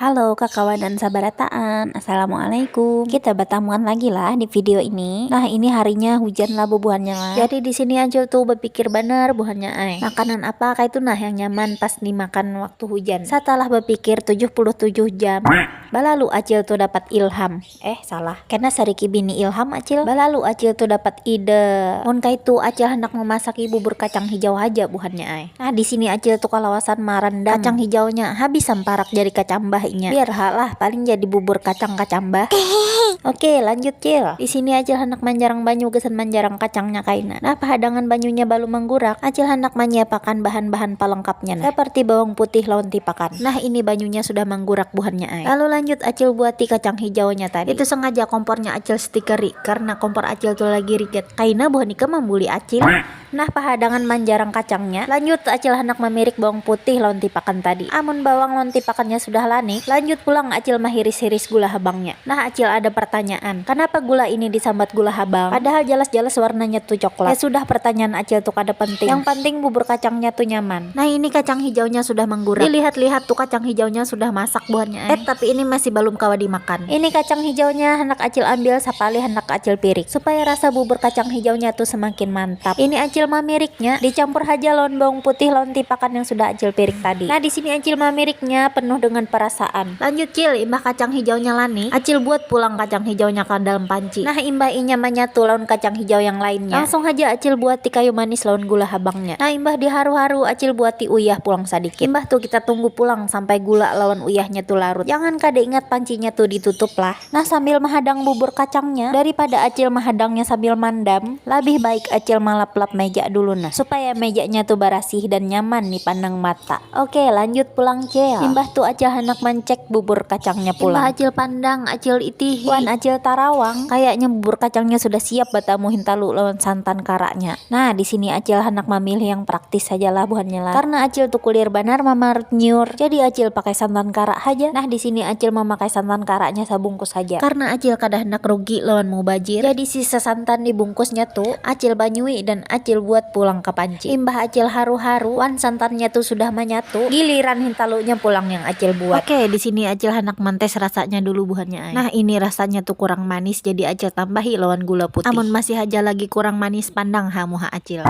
Halo kakawanan sabarataan, Assalamualaikum. Kita batamuan lagi lah di video ini. Nah, ini harinya hujan lah bubuhannya lah. Jadi di sini Ajul tuh bapikir banar buhannya ai, makanan apa kaitu nah yang nyaman pas dimakan waktu hujan. Satalah bapikir tujuh puluh tujuh jam balalu Ajul tuh dapat ilham. Eh salah. Kena sariki bini Ilham acil, balalu acil tu dapat ide. Mun kaitu acil handak memasaki bubur kacang hijau haja buhannya ai. Nah disini acil tu kalawasan marandam kacang hijaunya, habis samparak jari kacambah inya. Biar ha lah, paling jadi bubur kacang kacambah. Hehehe. Oke, lanjut cil. Disini acil handak manjarang banyu gasan manjarang kacangnya kaina. Nah pahadangan banyunya balum manggurak, acil handak manyiapakan bahan-bahan palengkapnya nah, seperti bawang putih lawan tipakan. Nah ini banyunya sudah manggurak buhannya ai. Lalu lanjut acil buati kacang hijaunya tadi. Itu sengaja kompornya acil stiker ri, karna kompor acil tu lagi rigat. Kaina buhan ikam mambuli acil? Nah pahadangan manjarang kacangnya, lanjut acil handak mamirik bawang putih lawan tipakan tadi. Amun bawang lawan tipakannya sudah lanik, lanjut pulang acil mahiris-hiris gula habangnya. Nah acil ada partanyaan, kanapa gula ini disambat gula habang, padahal jalas-jalas warnanya tu coklat. Ya sudah partanyaan acil tu kada penting, yang panting bubur kacangnya tu nyaman. Nah ini kacang hijaunya sudah menggurak. Dilihat-lihat tuh kacang hijaunya sudah masak buhannya. Eh tapi ini masih balum kawa dimakan. Ini kacang hijaunya handak acil ambil sapalih handak acil pirik supaya rasa bubur kacang hijaunya tuh semakin mantap. Ini acil mamiriknya, dicampur haja lawan bawang putih lawan tipakan yang sudah acil pirik tadi. Nah disini acil mamiriknya penuh dengan perasaan. Lanjut cil, imbah kacang hijaunya lani, acil buat pulang kacang hijaunya ka dalam panci. Nah imbah inya manyatu lawan kacang hijau yang lainnya, langsung haja acil buati kayu manis lawan gula habangnya. Nah imbah di haru haru acil buati uyah pulang sadikit imbah tu kita tunggu pulang sampai gula lawan uyahnya tu larut jangan kada ingat pancinya tu di tutup lah nah sambil mahadang bubur kacangnya dari pada acil mahadangnya sambil mandam labih baik acil malap lap meja dulu nah supaya mejanya tu barasih dan nyaman di pandang mata ok lanjut pulang cil imbah tu acil handak mancek bubur kacangnya pulang imbah acil pandang acil itihi wan acil tarawang kayaknya bubur kacangnya sudah siap batamu hintalu lawan santan karaknya. Nah disini acil handak mamilih yang praktis haja lah buhannya lah karna acil tu kulier banar mamartnyur jadi acil pakai santan karak haja nah disini acil mamakai santan karaknya sabungkus haja karna acil kada handak rugi lawan mubajir jadi sisa santan di bungkusnya tu acil banyui dan acil buat pulang ka panci imbah acil haru haru wan santannya tu sudah manyatu giliran hintalunya pulang yang acil buat oke disini acil handak mantes rasanya dulu buhannya. Nah ini rasanya tu kurang manis jadi acil tambahi lawan gula putih. Amun masih haja lagi kurang manis pandang ha muha acil.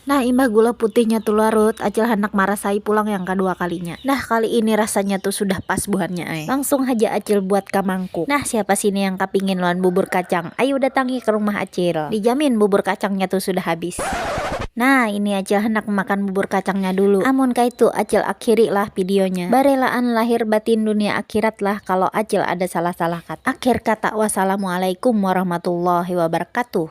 Nah imbah gula putihnya tu larut acil handak marasai pulang yang kadua kalinya. Nah kali ini rasanya tu sudah pas buhannya ai. Langsung haja acil buat ka mangkuk. Nah siapa sini yang kapingin lawan bubur kacang ayu datangi ka rumah acil. Dijamin bubur kacangnya tu sudah habis. Nah ini acil handak makan bubur kacangnya dulu amun kaitu acil akhiri lah videonya barelaan lahir batin dunia akhirat lah kalo acil ada salah salah kata akhir kata wassalamualaikum warahmatullahi wabarakatuh.